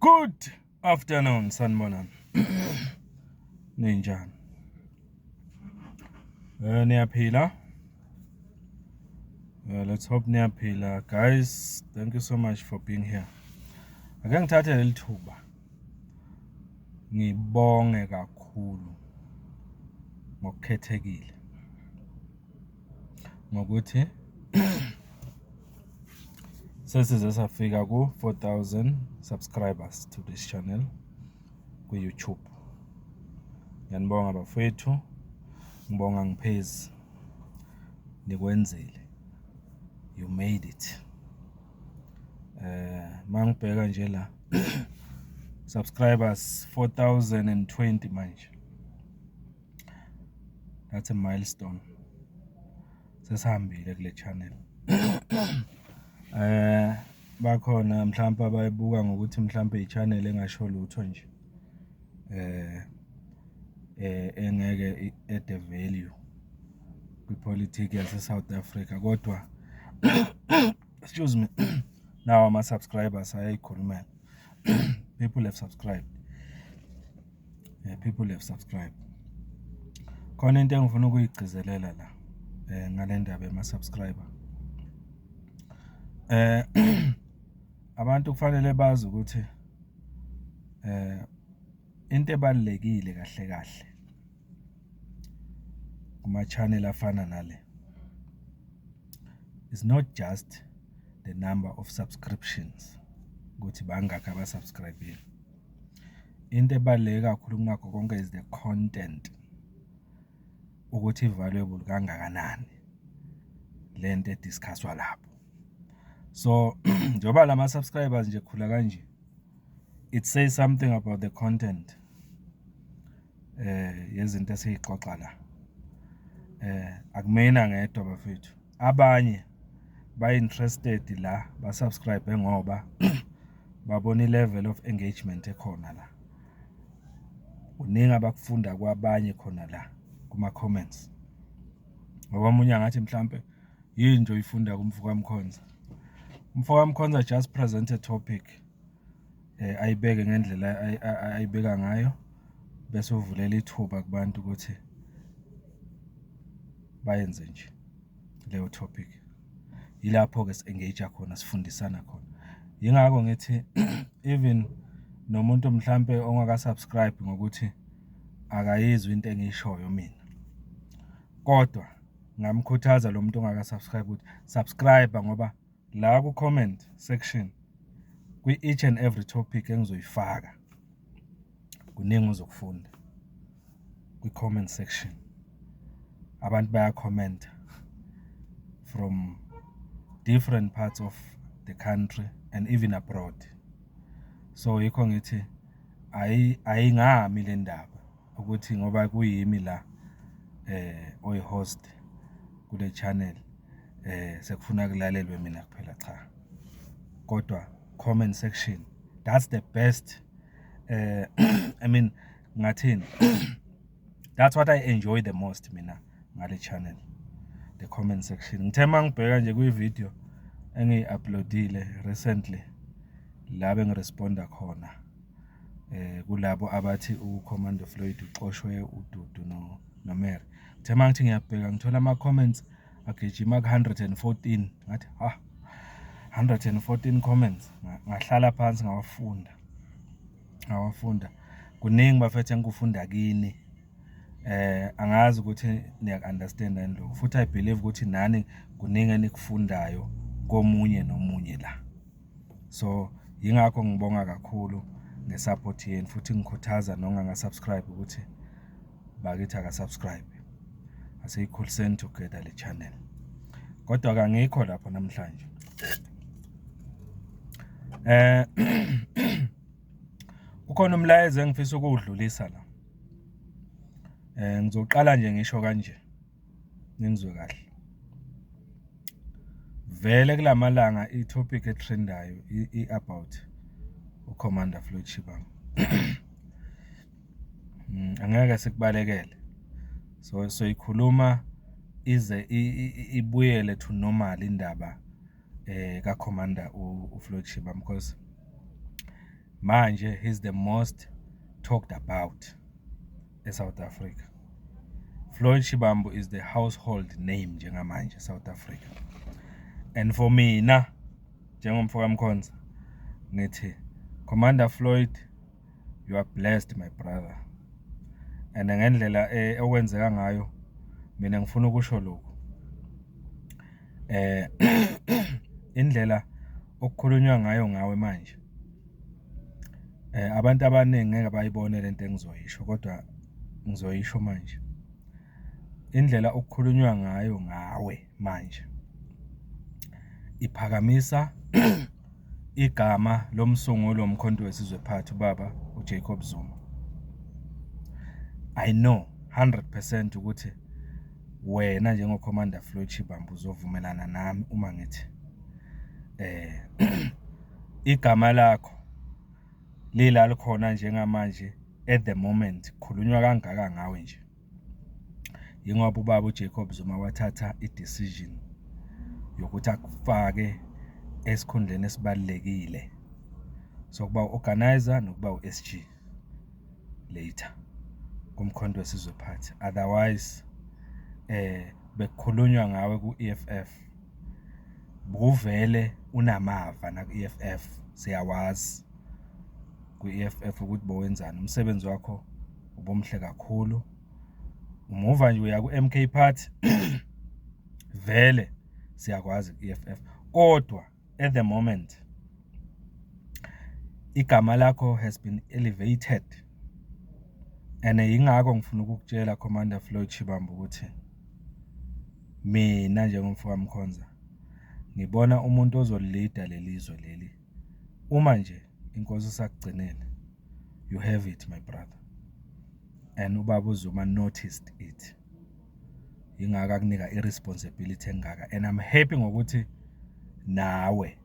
Good afternoon sanibonani. Ninjani? Eh niyaphila? Uh, let's hope niyaphila guys. Thank you so much for being here. Ake ngithathe leli thuba. Ngibonge kakhulu ngokukhethekile. ngokuthi sesize safika ku-4000 subscribers to this channel kwi-youtube ngiyanibonga bafethu ngibonga ngiphezi nikwenzile you made it eh mangibheka nje la subscribers 4020 manje that's a milestone sesihambile kule channel eh bakhona mhlawumbe abayibuka ngokuthi mhlawumbe i-channel engasho lutho nje eh eh engeke at the value kwipolitiki yase South Africa kodwa excuse me now ama subscribers ayayikhulumela people have subscribed eh, people have subscribe khona into engifuna ukuyigcizelela la eh ngale ndaba yama subscriber eh abantu kufanele bazi ukuthi eh into ebalekile kahle kahle kuma channel afana nale is not just the number of subscriptions ukuthi bangakhi abasubscribile Into ebaluleke kakhulu kunakho konke is the content ukuthi i-valuable kangakanani le nto e-discuss-wa lapho. So njengoba la ma-subscribers nje ekhula kanje, it says something about the content eh yezinto esiyixoxa la. Eh akumina ngedwa bafethu. abanye ba interested la ba subscribe ngoba babona i-level of engagement ekhona la kuningi abakufunda kwabanye khona la kuma comments ngoba omunye angathi mhlambe yini nje uyifunda kumfoka mkhonza umfoka mkhonza just present a topic ayibeke ngendlela ayibeka ngayo bese uvulela ithuba kubantu ukuthi bayenze nje leyo topic. Yilapho-ke si-engage-a khona sifundisana khona. Yingakho ngithi even nomuntu mhlampe ongaka-subscribe ngokuthi akayizwa into engiyishoyo mina. Kodwa ngingamkhuthaza lo muntu ongaka-subscribe ukuthi subscribe ngoba. la ku comment section kwi each and every topic engizoyifaka kuningi uzokufunda kwi comment section abantu baya comment from different parts of the country and even abroad so yikho ngithi ayingami le ndaba ukuthi ngoba kuyimi la eh oyihost kule channel eh sekufuna kulalelwe mina kuphela cha kodwa comment section that's the best eh i mean ngathini that's what i enjoy the most mina ngale channel the comment section ngithe mangibheka nje kwi video engiyi-uploadile recently la bengiresponda khona kulabo abathi uCommando Floyd uxoshwe uDudu noMary. Uthe uma ngithi ngiyabheka ngithola ama-comments agijima ku-hundred and fourteen ngathi ha hundred and fourteen comments ngahlala phansi ngawafunda ngawafunda kuningi bafethu engikufunda kini eh angazi ukuthi niyakunderstand yini lokho futhi i believe ukuthi nani kuningi enikufundayo komunye nomunye la so yingakho ngibonga kakhulu ngesupport yenu futhi ngikhuthaza nonganga subscribe ukuthi bakithi aka subscribe asiyikhuliseni together le channel kodwa kangikho lapho namhlanje eh ukhona umlayezo engifisa ukuwudlulisa la eh ngizoqala nje ngisho kanje ningizwe kahle vele kulamalanga i-topic etrendayo i-about uCommander Floyd Shivambu mm, angeke sikubalekele so soyikhuluma ize ibuyele to normal indaba eh ka commander u Floyd Shivambu because manje he's the most talked about eSouth Africa. Floyd Shivambu is the household name njengamanje eSouth Africa. And for mina njengomfo kaMkhonza ngithi Commander Floyd you are blessed my brother. And ngendlela eh, okwenzeka ngayo mina ngifuna ukusho lokho. Eh indlela okukhulunywa ngayo ngawe manje Abantu abaningi ngeke bayibone le nto engizoyisho kodwa ngizoyisho manje. Indlela okukhulunywa ngayo ngawe manje iphakamisa igama lomsunguli woMkhonto weSizwe Party ubaba uJacob Zuma. I know 100 percent ukuthi wena njengoCommander Floyd Shivambu uzovumelana nami uma ngithi eh Igama lakho lila likhona njengamanje at the moment khulunywa kangaka ngawe nje yingoba ubaba uJacob Zuma wathatha i-decision yokuthi akufake esikhundleni esibalekile sokuba uorganizer nokuba uSG later kumkhonto wesizwe party otherwise eh bekukhulunywa ngawe ku-EFF Bukuvele unamava naku-E_F_F siyawazi kwi-E_F_F ukuthi bowenzani, umsebenzi wakho ubumuhle kakhulu. Muva nje uya ku-M_K party vele siyakwazi ku-E_F_F kodwa at the moment igama lakho has been elevated and yingakho ngifuna ukukutshela Commander Floyd Shivambu ukuthi. Mina njengomfo kaMkhonza ngibona umuntu ozolida leli zwe leli uma nje inkosi isakugcinele. You have it my brother and ubaba uZuma noticed it. Yingakho akunika i-responsibility engaka and I'm happy ngokuthi nawe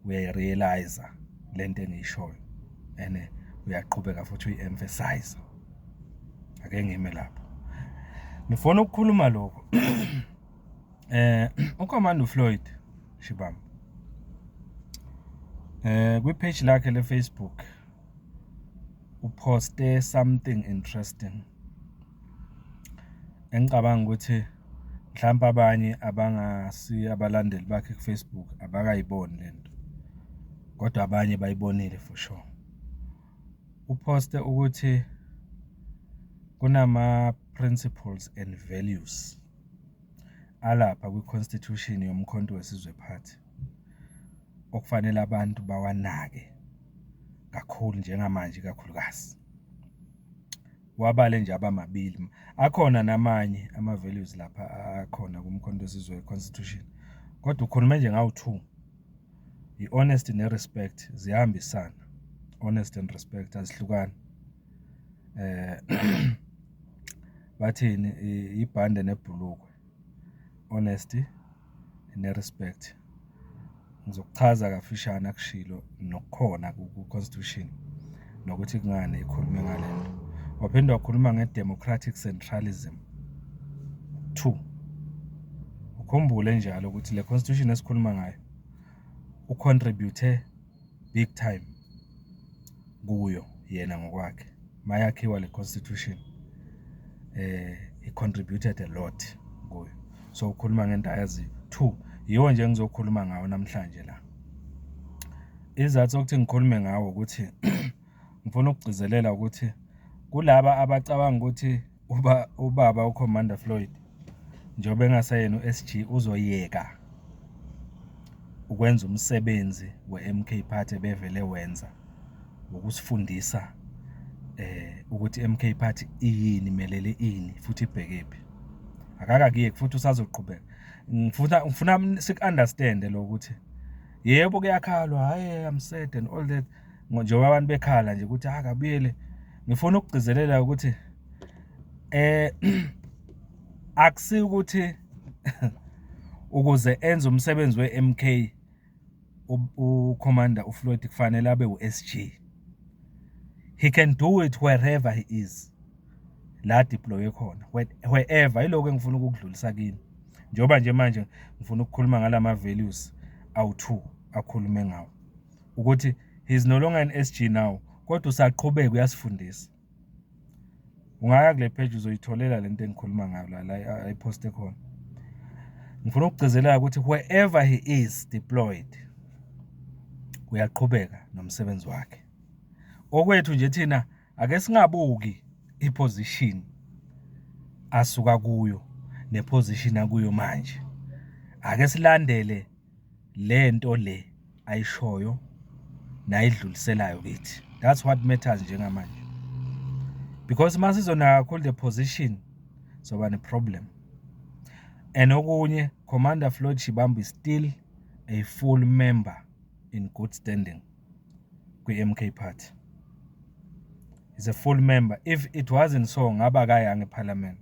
uyayi-realise-a le nto engiyishoyo and uyaqhubeka futhi uyi-emphasize ake ngime lapho ngifuna ukukhuluma lokho eh uCommand uFloyd Shibamba eh kwi page lakhe le Facebook uposte something interesting Engicabanga ukuthi mhlampe abanye abangasiye abalandeli bakhe ku-Facebook abakayiboni le nto, kodwa abanye bayibonile for sure. Uphoste ukuthi kunama-principles and values alapha kwi-constitution yoMkhonto weSizwe Party okufanele abantu bawanake kakhulu njengamanje ikakhulukazi. wabale nje abamabili akhona namanye ama values lapha akhona kumkhonto wesizwe constitution kodwa ukhuluma nje ngawu two i honest ne respect ziyahambisana honest and respect azihlukani eh bathini ibhande nebhulukwe honesty ne-respect. Ngizokuchaza kafishane akushilo nokukhona ku-constitution nokuthi kungani ikhulume ngale nto. Waphinde wakhuluma nge-democratic centralism two. Ukhumbule njalo ukuthi le constitution esikhuluma ngayo ucontribute big time kuyo yena ngokwakhe mayakhiwa le constitution eh he contributed a lot kuyo so ukhuluma ngento ayaziyo two yiwo nje engizokhuluma ngawo namhlanje la izathu sokuthi ngikhulume ngawo ukuthi ngifuna ukugcizelela ukuthi kulaba abacabanga ukuthi uba ubaba uCommander Floyd njengoba engasayena uSG uzoyeka ukwenza umsebenzi weMK Party bevele wenza wokusifundisa eh ukuthi MK Party iyini melele ini futhi ibhekephi akaka kuye futhi usazoqhubeka ngifuna ngifuna siku understand lokuthi yebo kuyakhalwa hayi i'm sad and all that njengoba abantu bekhala nje ukuthi akabuyele ngifuna ukugcizelela ukuthi eh akusi ukuthi ukuze enze umsebenzi weMK uCommander uFloyd kufanele abe uSG he can do it wherever he is la deploy khona wherever iloko engifuna ukukudlulisa kini njengoba nje manje ngifuna ukukhuluma ngalama values awu2 akhulume ngawo ukuthi he's no longer an SG now kodwa usaqhubeka uyasifundisa ungaya kule page uzoyitholela lento engikhuluma ngayo la la ayiposte khona ngifuna ukugcizelela ukuthi wherever he is deployed uyaqhubeka nomsebenzi wakhe okwethu nje thina ake singabuki iposition asuka kuyo neposition akuyo manje ake silandele le nto le ayishoyo nayidluliselayo kithi that's what matters njengamanje because uma sizonaka kakhulu the position soba ne-problem and okunye commander floyd shibambi still a full member in good standing kwi-mk party is a full member if it wasn't so ngaba kayange ephalamende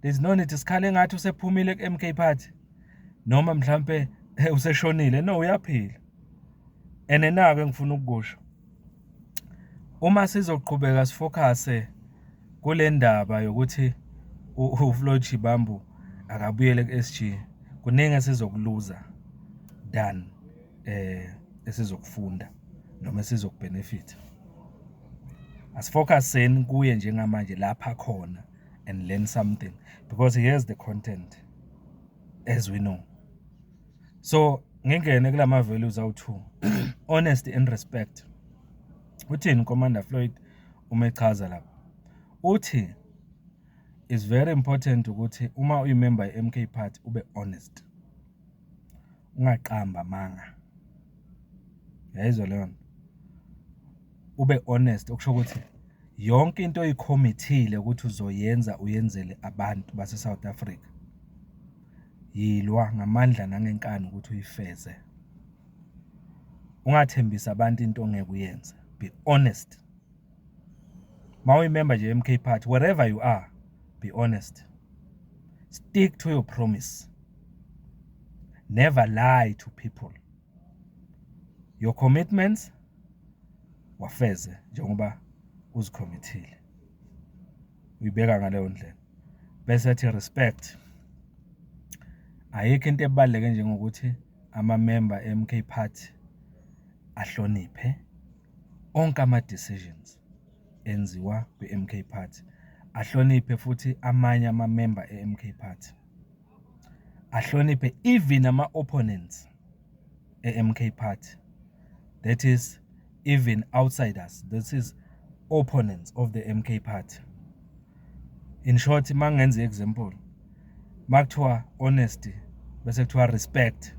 there's no need sikhale ngathi usephumile ku MK party noma mhlambe eh, useshonile no uyaphila ene nako engifuna ukukusho uma sizoqhubeka sifocuse kule ndaba yokuthi uFloyd Shibambu akabuyele ku-SG kuningi esizokuluza than eh esizokufunda noma esizokubhenefitha asifocuseni kuye njengamanje lapha khona and learn something because he has the content as we know so ngingene kula ma-values awu-two honesty and respect uthini commander floyd uma echaza lapha uthi is very important ukuthi uma uyimember ye-mk party ube honest ungaqambi amanga. Uyayizwa leyo nto? Ube honest okusho ukuthi yonke into oyikhomithile ukuthi uzoyenza uyenzele abantu base-South Africa, yilwa ngamandla nangenkani ukuthi uyifeze. Ungathembisi abantu into ongeke uyenze. Be honest. mawuyimember nje MK party wherever you are be honest stick to your promise never lie to people your commitments wafeze njengoba uzikhomithile uyibeka ngaleyo ndlela bese ethi respect ayikho into ebaluleke njengokuthi amamemba eMK Party ahloniphe Onke ama decisions enziwa kwi MK Party ahloniphe futhi amanye ama member e MK Party ahloniphe even ama opponents e MK Party that is even outsiders that is opponents of the MK Party. in short mangenza example makuthiwa honesty bese kuthiwa respect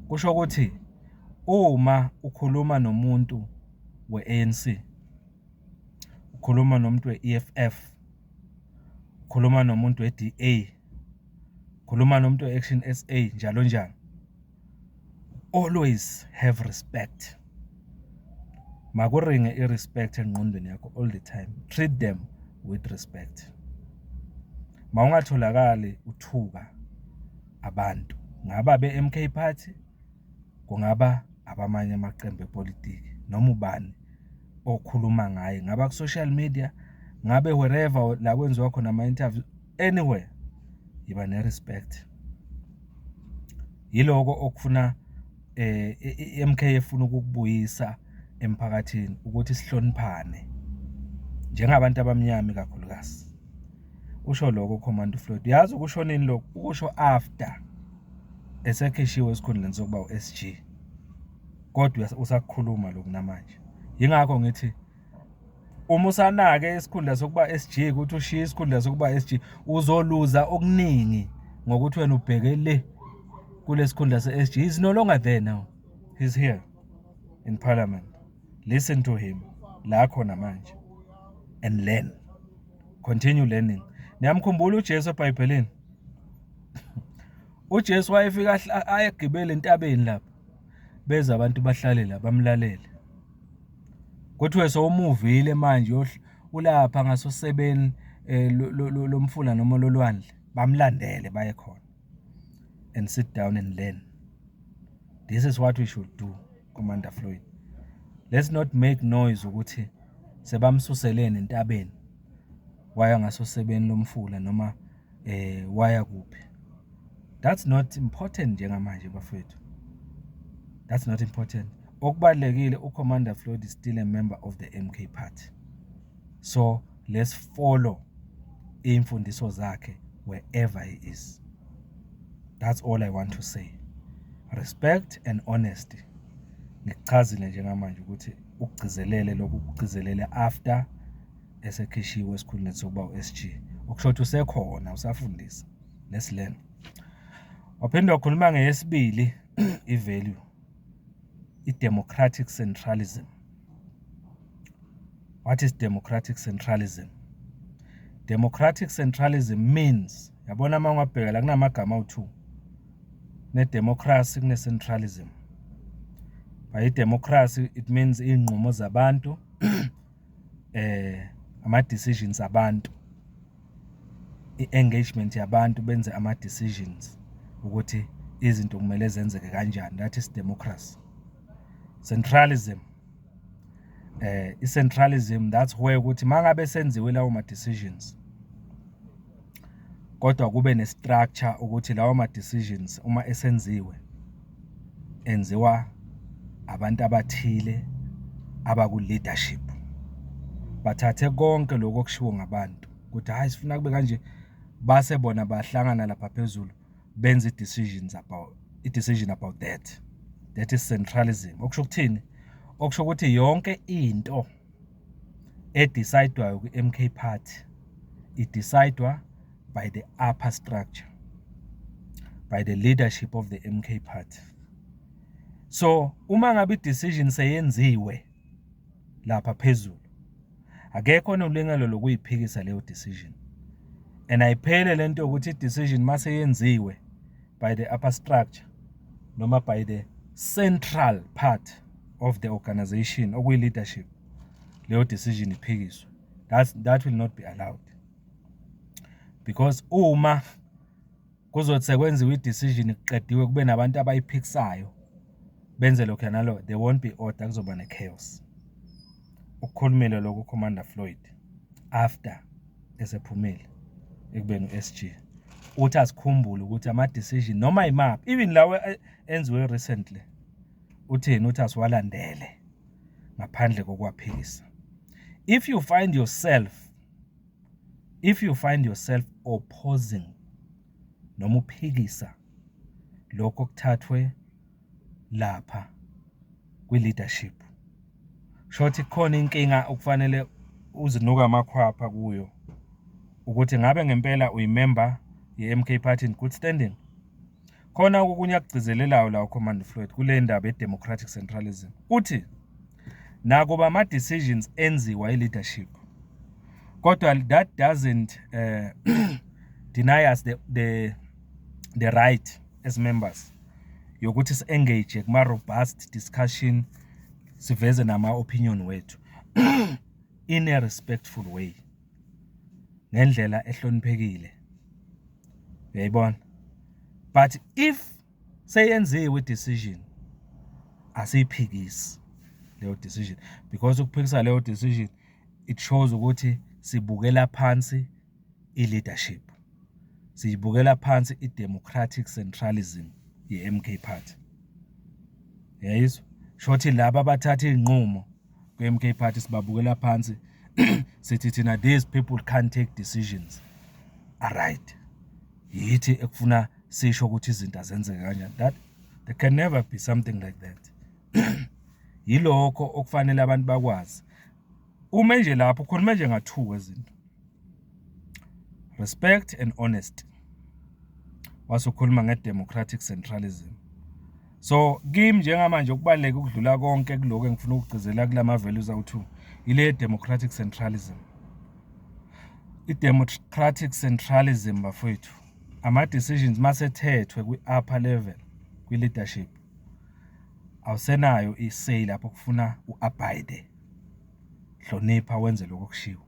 kusho ukuthi uma ukhuluma nomuntu we-ANC ukhuluma nomuntu we-EFF ukhuluma nomuntu we-DA ukhuluma nomuntu we-Action SA njalo njalo Always have respect makuringe i-respect engqondweni yakho all the time treat them with respect mawungatholakali uthuka abantu ngaba be-MK party kungaba abamanye amaqembu epolitiki noma ubani okhuluma ngaye ngaba ku-social media ngabe wherever la kwenziwa khona ama-interview anywhere yiba ne respect yiloko okufuna eh iMK efuna ukukubuyisa emphakathini ukuthi sihloniphane njengabantu abamnyama kakhulukazi usho lokho command floyd yazi ukushonini lokho ukusho after esekhishiwe esikhundleni sokuba uSG kodwa usakukhuluma lokhu namanje yingakho ngithi uma usanake isikhundla sokuba SG ukuthi ushiye isikhundla sokuba SG uzoluza okuningi ngokuthi wena ubheke le kulesikhundla se-SG he's no longer there now he's here in parliament listen to him la khona manje and learn continue learning niyamkhumbula uJesu eBhayibhelini uJesu wayefika ayegibele entabeni lapho beza abantu bahlalela bamlalele Kuthiwe sowumuvile manje ulapha ngasosebeni lomfula noma lolwandle bamlandele baye khona and sit down and learn this is what we should do Commander Floyd let's not make noise ukuthi sebamsuseleni entabeni. waya ngasosebeni lomfula noma waya kuphi. That's not important njengamanje bafwethu. That's not important. Okubalekile uCommander Floyd is still a member of the MK party. So let's follow imfundiso zakhe wherever he is. That's all I want to say. Respect and honesty. Ngikuchazile njengamanje ukuthi ukugcizelele lokhu kugcizelele after esekhishiwe esikhundleni sokuba u-SG okusho ukuthi usekhona usafundisa let's learn waphinde wakhuluma ngeyesibili i-value i-democratic centralism what is democratic centralism democratic centralism means yabona uma ungabheka la kunamagama awu-two ne-democracy kune-centralism by i-democracy it means iy'nqumo zabantu eh ama decisions abantu i-engagement yabantu benze ama decisions ukuthi izinto kumele zenzeke kanjani that is democracy centralism eh i-centralism that's where ukuthi mangabe senziwe lawo ma decisions kodwa kube ne-structure ukuthi lawa ma-decisions uma esenziwe enziwa abantu abathile abaku-leadership bathathe konke lokho okushiwo ngabantu ukuthi hhayi sifuna kube kanje base bona bahlangana lapha phezulu benze i-decisions about i-decision about that that is centralism okusho ukuthini okusho ukuthi yonke into edisayidwayo kwi-MK Party idisayidwa by the upper structure, by the leadership of the MK Party. So uma ngabe i-decision seyenziwe lapha phezulu akekho onolungelo lokuyiphikisa leyo decision and ayiphele lento ukuthi i-decision mase yenziwe by the upper structure noma by the central part of the organization okuyi leadership leyo decision iphikiswe that's that will not be allowed because uma kuzothi sekwenziwa i-decision kuqediwe kube nabantu abayiphikisayo benze lokho nalo there won't be order kuzoba ne-chaos Ukukhulumile lokhu uCommander Floyd after esephumile ekubeni uSG. Uthi asikhumbule ukuthi ama decision noma imaphi even lawe eh, enziwe recently uthini uthi asiwalandele ngaphandle kokwaphikisa. If you find yourself if you find yourself opposing noma uphikisa lokho kuthathwe lapha kwi-leadership. Kushuthi kukhona inkinga okufanele uzinuke amakhwapha kuyo ukuthi ngabe ngempela uyimemba ye-MK Party in good standing. Khona okunye akugcizelelayo la uCommand Floyd kule ndaba ye-democratic centralism. Uthi nakuba ama-decisions enziwa i-leadership kodwa that doesn't uh, deny us the, the, the right as members yokuthi si-engage kuma-robust discussion siveze nama-opinion wethu in a respectful way ngendlela ehloniphekile uyayibona but if seyenziwe i-decision asiyiphikisi leyo decision because ukuphikisa leyo decision it shows ukuthi sibukela phansi i-leadership. Siyibukela phansi i-democratic centralism ye-MK Party. Yayizwa? Shothi laba abathatha iy'nqumo kwi-MK Party sibabukela phansi sithi thina these people can't take decisions aright. Yithi ekufuna sisho ukuthi izinto azenzeke kanjani. That there can never be something like that. Yilokho okufanele abantu bakwazi. Ume nje lapho khona nje nga2 wezinto. Respect and honesty. Wasokhuluma ngedemocratic centralism. So kimi njengamanje ukubaleka ukudlula konke kuloko engifuna ukugcizela kulama values awu2 ile democratic centralism. I-democratic centralism bafowethu ama-decisions masethethwe kwi-upper level kwi-leadership awusenayo i-say lapho kufuna u-abide hlonipha wenze lokho okushiwo.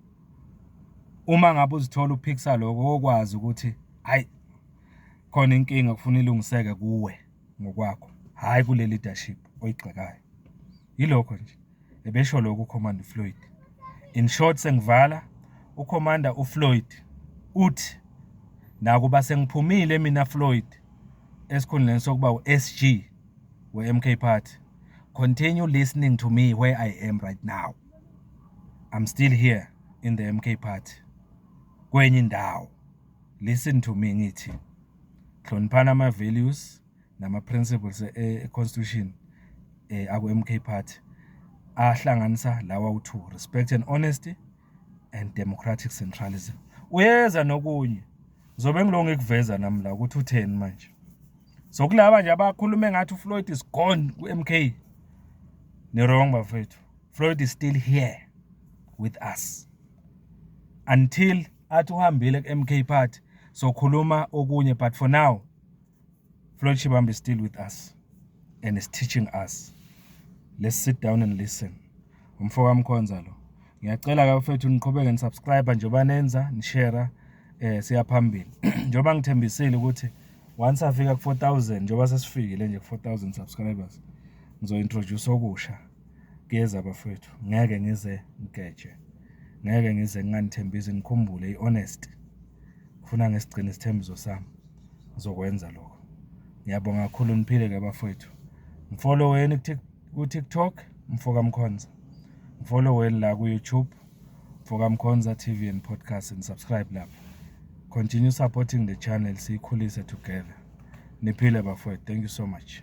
Uma ngabe uzithola uphikisa lokho okwazi ukuthi hayi khona inkinga kufuna ilungiseke kuwe ngokwakho, hhayi kule leadership oyigxekayo. Yilokho nje, ebesho lokho uCommand Floyd. In short sengivala uCommander uFloyd uthi nakuba sengiphumile mina Floyd esikhundleni sokuba u-SG We MK Party, continue listening to me where I am right now. I'm still here in the MK Party. Kwenye indawo. Listen to me ngithi. Hloniphana ama values nama principles e, e constitution eh aku MK Party ahlanganisa lawa u2 respect and honesty and democratic centralism uyeza nokunye zobe ngilo ngikuveza nami la ukuthi utheni manje so kulaba nje abakhuluma engathi uFloyd is gone kuMK ni wrong bafethu Floyd is still here with us until athi uhambile kuMK party sokhuluma okunye but for now Floyd Shibambi is still with us and is teaching us. Let's sit down and listen. Umfo kamkhonza lo. Ngiyacela ka mfethu niqhubeke ni subscribe njengoba nenza, ni share eh siya phambili. Njengoba ngithembisile ukuthi once afika ku 4000 njengoba sesifikile nje ku 4000 subscribers ngizo introduce okusha. Kuyeza bafowethu, ngeke ngize ngigeje, ngeke ngize nginganithembisi, ngikhumbule i-honest. Ngifuna ngisigcine isithembiso sami, ngizokwenza lokho. Ngiyabonga kakhulu, niphile-ke bafowethu. Ngifoloweni ku-TikTok, Mfoka Mkhonza. Ngifoloweni la ku-YouTube, Mfoka Mkhonza TV and Podcast, and subscribe lapho. Continue supporting the channel, siyikhulise together. Niphile bafowethu, thank you so much.